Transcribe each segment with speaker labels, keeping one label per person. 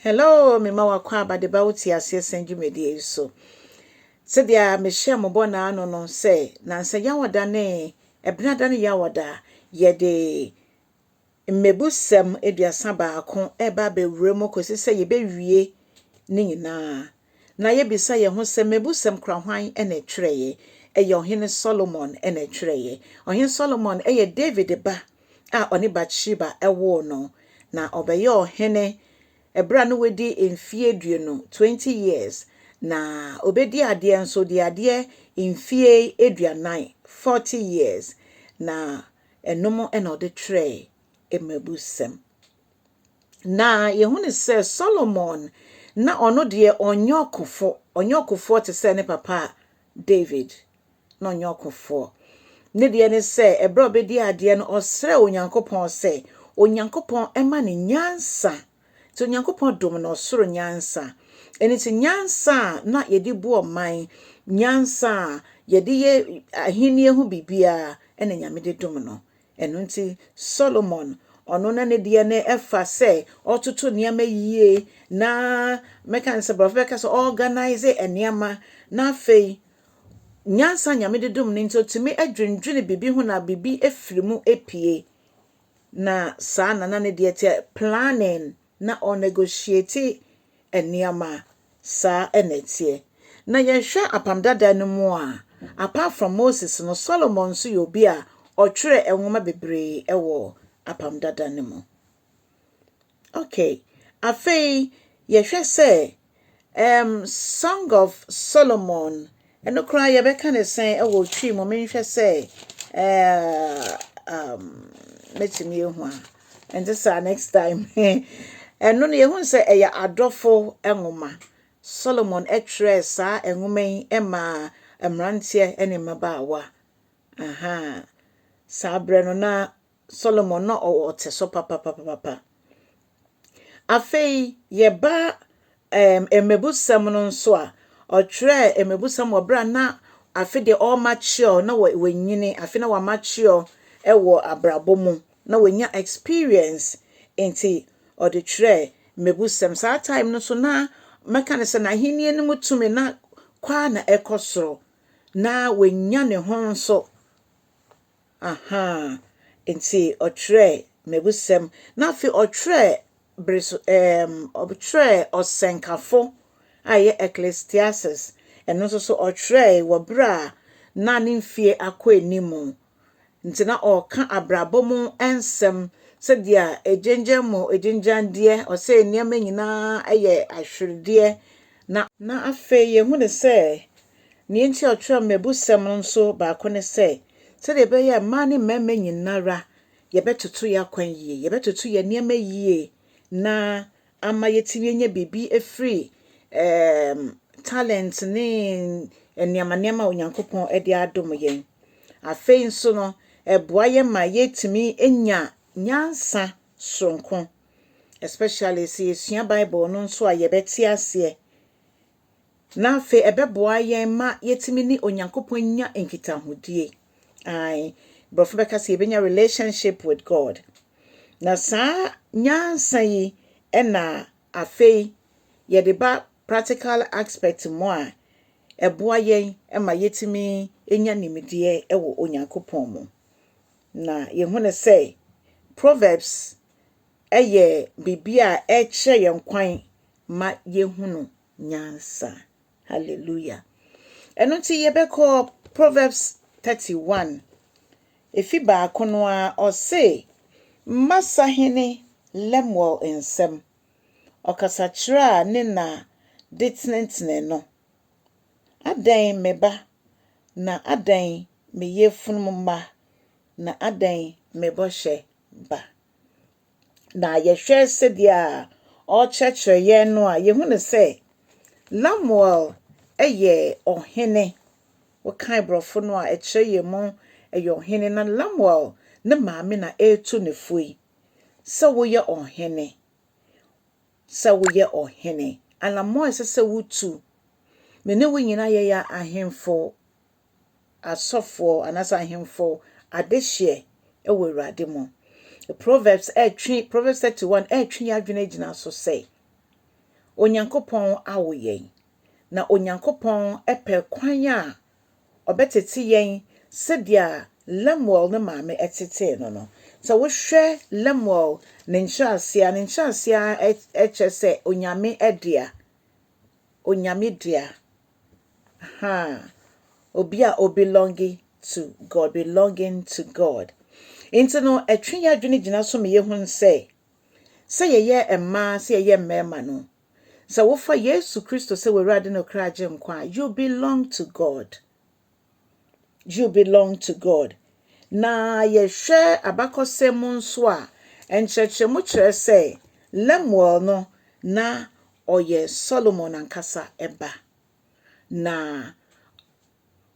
Speaker 1: Hello mema w'akwaaba de ba wo te aseɛ sɛn dwumadie yi so sɛdeɛ mehyɛ mo bɔ n'ano no sɛ nansa yawɔda ne ɛbenada ne yawɔda yɛde mmebusɛm aduasa baako ɛba abɛwura mu kɔsi sɛ yɛbɛwie ne nyinaa na yebisa yɛn ho sɛ, Mmebusɛm kora hwan na ɛtwerɛeɛ? Ɛyɛ Ɔhene Solomon na ɛtwerɛeɛ. Ɔhene Solomon yɛ Dawid ba a ɔne Bat-Sheba woo no, na ɔbɛyɛɛ ɔhene berɛ a na wadi mfeɛ aduonu, 20 years, na ɔbɛdii adeɛ nso, ɔdii adeɛ mfeɛ aduanan, 40 years, na ɛnom na ɔde twerɛɛ Mmebusɛm. Na yɛhu no sɛ Solomon na ɔno deɛ ɔnyɛ ɔkofo, ɔnyɛ ɔkofoɔ te sɛ ne papa David na ɔnyɛ ɔkofoɔ. Ne deɛ ne sɛ ɛberɛ a ɔbɛdi adeɛ no ɔsrɛ Onyankopɔn sɛ Onyankopɔn ɛma ne nyansa. Nti Onyankopɔn dom no ɔsoro nyansa. Ɛno nti nyansa a na yɛde bu ɔman, nyansa a yɛde yɛ ahennie ho biribiara ɛna Nyame de dom no. Ɛno nti, Solomon, ɔno na ne deɛ no ɛfa sɛ ɔtoto nneɛma yie na mɛka ne sɛ borɔfo bɛka sɛ ɔorganise nneɛma na afei nyansa nyame de dom no nti ɔtumi adwendwene biribi ho na biribi afiri mu apue na saa na na ne deɛ teɛ planning na ɔ negotiate nneɛma a, saa na ɛteɛ. Na yɛhwɛ Apam Dada no mu a, apart from Moses no, Solomon nso yɛ obi a ɔtwerɛɛ nwoma bebree wɔ Apam Dada no mu. Okay, afei yɛhwɛ sɛ Um Song of Solomon ɛno koraa yɛbɛka ne sɛn ɛwɔ twi mu menhwɛ sɛ ɛɛ um mɛtumi ehu a ɛnte saa next time ɛno no yɛhu sɛ ɛyɛ adɔfo nwoma Solomon ɛtwerɛɛ saa nwoma yi ɛmaa mmeranteɛ ne mmabaawa aha saa berɛ no na Solomon na ɔwɔ ɔtesɔ papapapapa. Afei yɛba ɛɛm mmebusɛm no nso a, ɔtwerɛɛ mmebusɛm wɔ berɛ a na afe deɛ ɔrema kyeɛɔ na wanyini, afe na wama kyeɛɔ wɔ abrabɔ mu, na wanya experience nti ɔde twerɛɛ mmebusɛm. Saa time no nso na mɛka ne sɛ n'ahennie no mu tumi na kɔ ara na ɛkɔ soro, na wanya ne ho nso. Ahaa. Ntsi ɔtwerɛɛ mebusɛm, na afei ɔtwerɛɛ ber so eem ɔtwerɛɛ Ɔsɛnkafo a ɔyɛ Ecclesiastes, no so so ɔtwerɛe wɔ ber a nna ne mfie akɔ enyim. Ntsi na ɔrekã abrabɔ mu nsɛm, sɛdeɛ a egyenngyen mu egyenngyandeɛ, ɔsɛɛ nneɛma nyina yɛ ahwerdeɛ, na. Na afei yehun dɛ sɛ Nea enti a ɔtwerɛɛ mmebusɛm no nso baako ne sɛ, sɛdeɛ ɛbɛyɛ a mmaa ne mmarima nyina ara yɛbɛtoto yɛn akwan yie, yɛbɛtoto yɛn nneɛma yie na ama yɛatumi anya biribi afiri ɛɛm, talent ne nneɛma nneɛma a Onyankopɔn de adom yɛn. Afei nso no, ɛboa yɛn ma yɛtumi nya nyansa soronko especially sɛ yɛsua Bible no nso a yɛbɛte aseɛ. Na afei ɛbɛboa yɛn ma yɛatumi ne Onyankopɔn anya nkitahodie. Ae, borɔfo bɛka sɛ yɛbɛnya relationship with God. Na saa nyansa yi na afei yɛde ba practical aspect mu a, ɛboa yɛn ma yɛtumi nya nimdeɛ wɔ Onyankopɔn mu. Na yɛhu no sɛ Proverbs yɛ biribi a ɛkyerɛ yɛn kwan ma yɛhunu nyansa. Hallelujah. Ɛno nti yɛbɛkɔ Proverbs 31, efi baako no ara, ɔse, Mma sahene Lemuel nsam, ɔkasakyerɛ a ne na de tenetene no, Adɛn me ba, na adɛn me yefunu mma, na adɛn me bɔhyɛ ba? Na yɛhwɛ sɛdeɛ a ɔrekyerɛkyerɛ yɛn no a, yɛhu no sɛ Lamuel yɛ ɔhene. Wokan borɔfo no a, ɛkyerɛ yɛn mu ɛyɛ ɔhene. Na Lamuel ne maame na ɛretu ne fo yi sɛ woyɛ ɔhene, sɛ woyɛ ɔhene. Anammɔn a ɛsɛ sɛ wotu. Me ne wo nyinaa yɛyɛ ahemfo. asɔfoɔ anaasɛ ahemfoɔ adehyeɛ wɔ Awurade mu. Proverbs retwe, Proverbs 31 retwe yɛn adwene agyina so sɛ, Onyankopɔn awo yɛn, na Onyankopɔn pɛ kwan a ɔbɛtete yɛn sɛdeɛ Lemuel ne maame tetee no no. Sɛ wohwɛ Lemuel ne nkyerɛaseɛ a, ne nkyerɛaseɛ ara kyerɛ sɛ Onyame dea, Onyame dea. Aha, obi a o belonge to God, belonging to God. Nti no, ɛtwe yɛ adwene gyina so ma yɛhu sɛ, sɛ yɛyɛ mmaa, sɛ yɛyɛ mmarima no, sɛ wofa Yesu Kristo sɛ w'Awurade ne Ɔkra Agyenkwa a, you belong to God. You Belong to God. Na yɛhwɛ abakɔsɛm mu nso a, nkyerɛkyerɛmu kyerɛ sɛ Lemuel no, na ɔyɛ Solomon ankasa ba. Na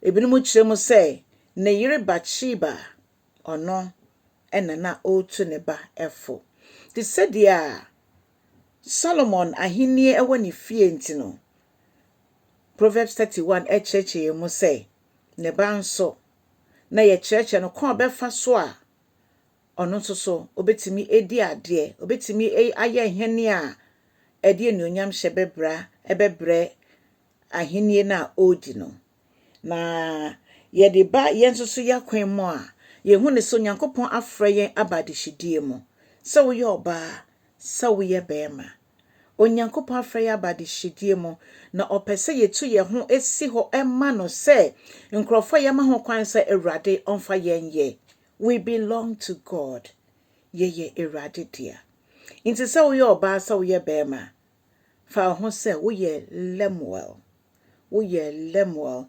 Speaker 1: ebinom kyerɛ mu sɛ ne yere Batsheba, ɔno na na ɔretu ne ba fo. Te sɛdeɛ a Solomon ahenni wɔ ne fie nti no, Proverbs thirty one kyerɛkyerɛ yɛn mu sɛ, Ne ba nso, na yɛkyerɛkyerɛ no kwan a ɔbɛfa so a ɔno nso so obetumi adi adeɛ, obetumi ayɛ nhene a ɛde anuonyamhyɛ bɛbra bɛbrɛ ahenni no a ɔredi no. Na yɛde ba yɛn nso so yɛakwan mu a, yɛhu ne so Nyankopɔn afrɛ yɛn aba adehyedie mu. Sɛ woyɛ ɔbaa, sɛ woyɛ bɛɛma, Onyankopɔn afrɛ yɛn aba adehyedie mu, na ɔpɛ sɛ yɛtu yɛn ho si hɔ ma no sɛ nkurɔfoɔ a yɛama ho kwan sɛ Awurade ɔmfa yɛn nyɛ. We belong to God. Yɛyɛ Awurade dea. Nti sɛ woyɛ ɔbaa, sɛ woyɛ bɛɛma, Fa wo ho sɛ woyɛ Lemuel. Woyɛ Lemuel.